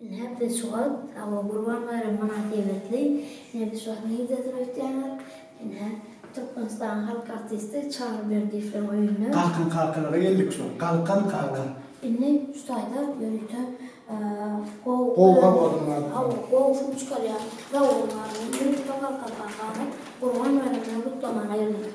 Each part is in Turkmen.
Ine, biz şu wagt Awa Gurban baýramy mynasybetli, ine, biz şu wagt nirde durup ýetýäňiz? Ine, Türkmenistanyň halk artisti Çary Berdiýewiň öýünde. Galkyn kakalara geldik şu wagt. Galkyn kaka. Indi şu taýda ýörite gowy. Gowy awazyň bar. Hawa, gowy syn çykarýaň. Sag bol, Galkyn kaka. Gurban baýramyny gutlamaga geldik.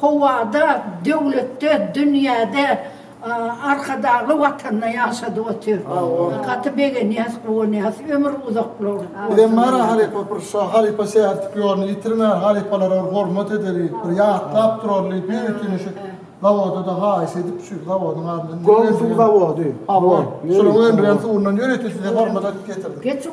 Howada, döwletde, dünýäde Arkadagly watanda ýaşadyp otyr. Gaty begenýäs, guwanýas. Ömür uzak bolsun. Bizem bara halypa bir şo halypa şähertik ýolny ýitirmän halypalara bir hormat edeli bir ýatlap duraly bir ýetini şu zawoda-da haýyş edip şu zawodyň adyndan Gowy suw zawody. Hawa. Şunuň öndüren suwundan ýörite size hormat edip getirdik. Geçiň.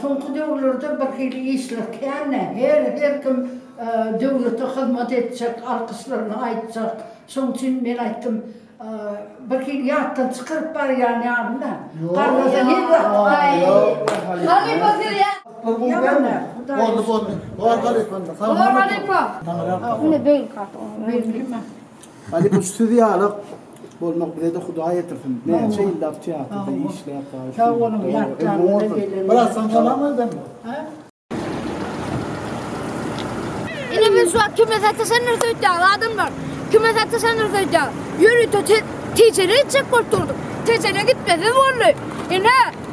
Soňky döwürlerde birhili işler kän-ä, her-her kim döwlete hyzmat etjek, alkyşlaryny aýtjak. Şoň üçin men aýtdym, birhili ýatdan çykaryp barýan ýaly-da. Garrasa her wagt aý. Halypa siz ýa. Ýa-da Hudaý. Boldy, boldy. Bor halypam. Bor halypa. Ine beýlki at. Beýlki mi? Hany bu siz ýaly bolmak bizede hudaý ýetirsin. Näçe ýyllap teatrda işläp bar. Sag boluň ýatlaryňyza gelelim. Biraz soň salam aýdan bol. Ine men şu wagt kime sataşan nirse öýtýän adamlar. Kime sataşan nirse öýtýän. Ýörite tejere etjek bolup durdum. Tejere gitmesiz boldy. Ine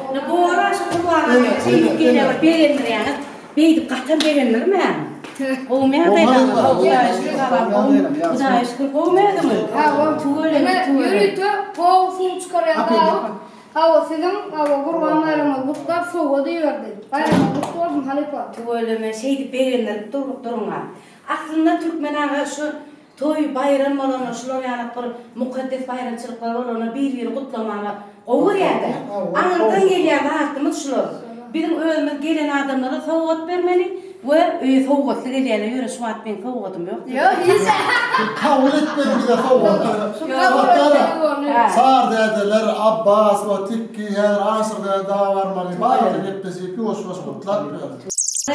Ýa bora şu gurbaga şeýdip gelýär begendirýäňiz beýdip gaty begendirmäň gowymy ýagdaýlaryňyz Hudaýa şükür gabam gowy Hudaýa şükür gowumy özüňiz tüweleme tüweleme pow suw çykarýan gabyk hawa siziň hawa gurban baýramyňyz gutlap sowgat iberdi baýramyňyz gutly bolsun halypa. Tüweleme şeýdip begendirip duruk duruňa aslynda Türkmen aga şu Toý, baýram bolanda şular ýalak bir mukaddes baýramçylyklar bolanda bir-birini gutlamana gowy görýärdi. Aňyrdan gelýän zatymyz şular. Biziň özümiz gelen adamlara sowgat bermeli we öýe sowgatly gelýärler. Ýöne şu wagt meň sowgadym ýok diýip. Kabul etmeli bize sowgatlary. Sardädeler, Abbas we Tikki häzir Aşyr däde daga barmaly. Bagtly gepleşik, ýuwaş-ýuwaş gutlap ber.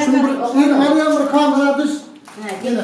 Şuny bir, Irem ýa bir kamera düz. Hä, getir.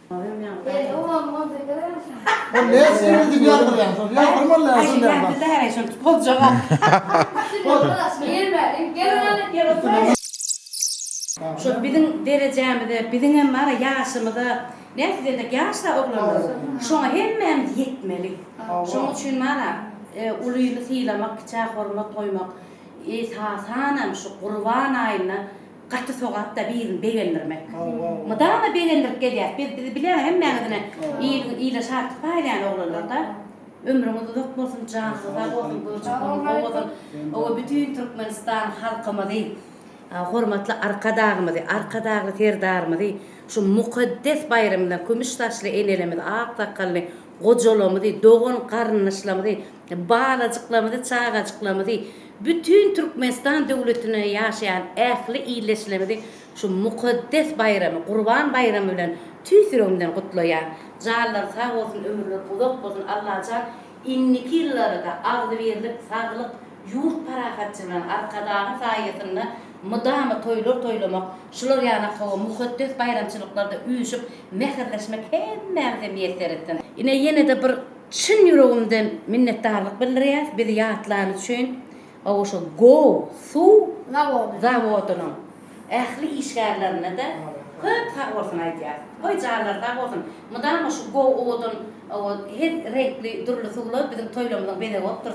Şol biziň derejämize, biziňem bar-a ýaşymyza, nähili diýenok, ýaş-da oglanlar, şoňa hemmämiz ýetmeli. Şoň üçin bar-a, ulyny sylamak, kiçä hormat goýmak, esasanam şu Gurban aýynda. Gaty sogapda birini begendirmek. Mydama begendirip gelýäs. Biz bizi bilýäňiz hemmäňizine il ile şatlyk paýlaýan oglanlarda. Ömrüňiz uzak bolsun, janyňyz sag bolsun, görjek günüň gowy bolsun. Owo bütin Türkmenistan halkymyzy, hormatly Arkadagymyzy, Arkadagly Serdarymyzy şu mukaddes baýramyna kümüş saçly enelerimizi, ak sakgally gojalarymyzy, dogan garyndaşlarymyzy, Balajyklarymyzy, çagajyklarymyzy, bütin Türkmenistan döwletinde ýaşaýan ähli ildeşlerimizi şu mukaddes baýramy, Gurban baýramy bilen tüýs ýüregimden gutlaýan. Janlary sag bolsun, ömürleri uzak bolsun, Allajan indiki ýyllarada agzybirlik, saglyk, ýurt parahatçylygy bilen Arkadagyň saýasynda mydama toýlar toýlamak, şular ýaly hawa mukaddes baýramçylyklarda üýşüp, mähirleşmek hemmämize miýesser etsin. Ine ýene-de bir Çyn ýüregimden minnetdarlyk bildirýäs bizi ýatlany üçin oba şu Goo suw zawodynyň ähli işgärlerine de köp sag bolsun aýdýas. Goý janlary sag bolsun. Mydama şu Goo owadan owa her reňkli dürli suwlar biziň toýlarymyzyň bezegi bolup dursun.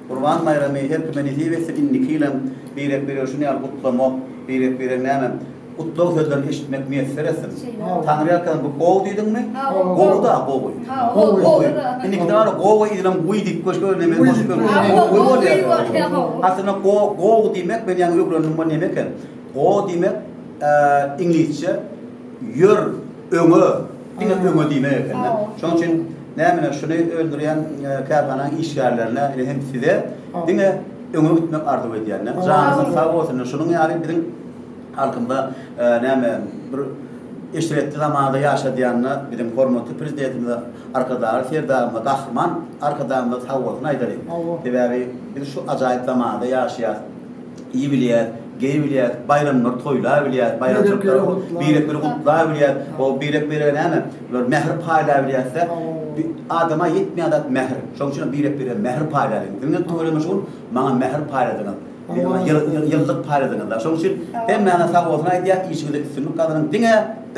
Gurban baýramy her kime nesip etsin indiki ýylam birek biregi şuny ýaly gutlamak birek biregi näme gutlag sözlerini eşitmek miýesser etsin Taňry ýalkasyn bu gowy diýdiňmi gowy da gowy gowy gowy indiki dana gowy ýylam guý diýip goş görnemeli goş görnemeli gowy bolýar aslynda go gowy diýmek men ýaňy ögrendim bu neme eken go diýmek iňlisçe ýör öňe Diňe öňe diýmek ekende. Şonuň üçin nämüne şuny öndürýän kärhananyň işgärlerine hem size diňe öňe gitmek arzuw edýände. Janyňyz sag bolsun. Şunuň ýaly biziň halkymyza näme bir eşretli zamanda ýaşadýanyna biziň hormatly Prezidentimize, Arkadagly Serdarymyza, Gahryman Arkadagymyza sag bolsun aýdalyň. Sebäbi biz şu ajaýyp zamanda ýaşaýas. iýibilýär, geýibilýär, baýramlary toýlabilýär, baýramçylyklary birek-biri gutlabilýär, o birek-birege näme, bir mähir paýlabilýär-de, adama ýetmeýän zat mähir, şonuň üçin hem birek-birege mähir paýlaýlyň. Siziň hem tüweleme şugul, maňa mähir paýladyňyz, ýylylyk paýladyňyz-a. Şonuň üçin hemmäňize sag bolsun aýdýan, işiňizde üstünlik gazanyň, diňe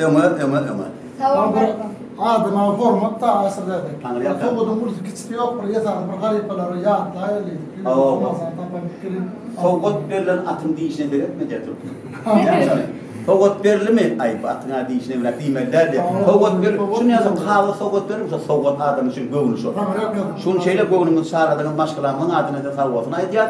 öňe, öňe, öňe! Salam aleýkum. Adama hormat da aşyrdaydy. Sowudyň ulysy kiçisi ýok bir esasy bir halypalary ýatlaýaly. Sowgat berlen atyň dişine seretme diýýär türkmen. Sowgat berlimi? Aý bu atyň dişine bile diýmeli däl diýýär. Sowgat ber. Şuny ýazyň kagyz sowgat berim şo sowgat adam üçin göwni şo. Şuny şeýle göwnümizi çarladyňyz maşgalamyzyň adyna size sag bolsun aýdýas.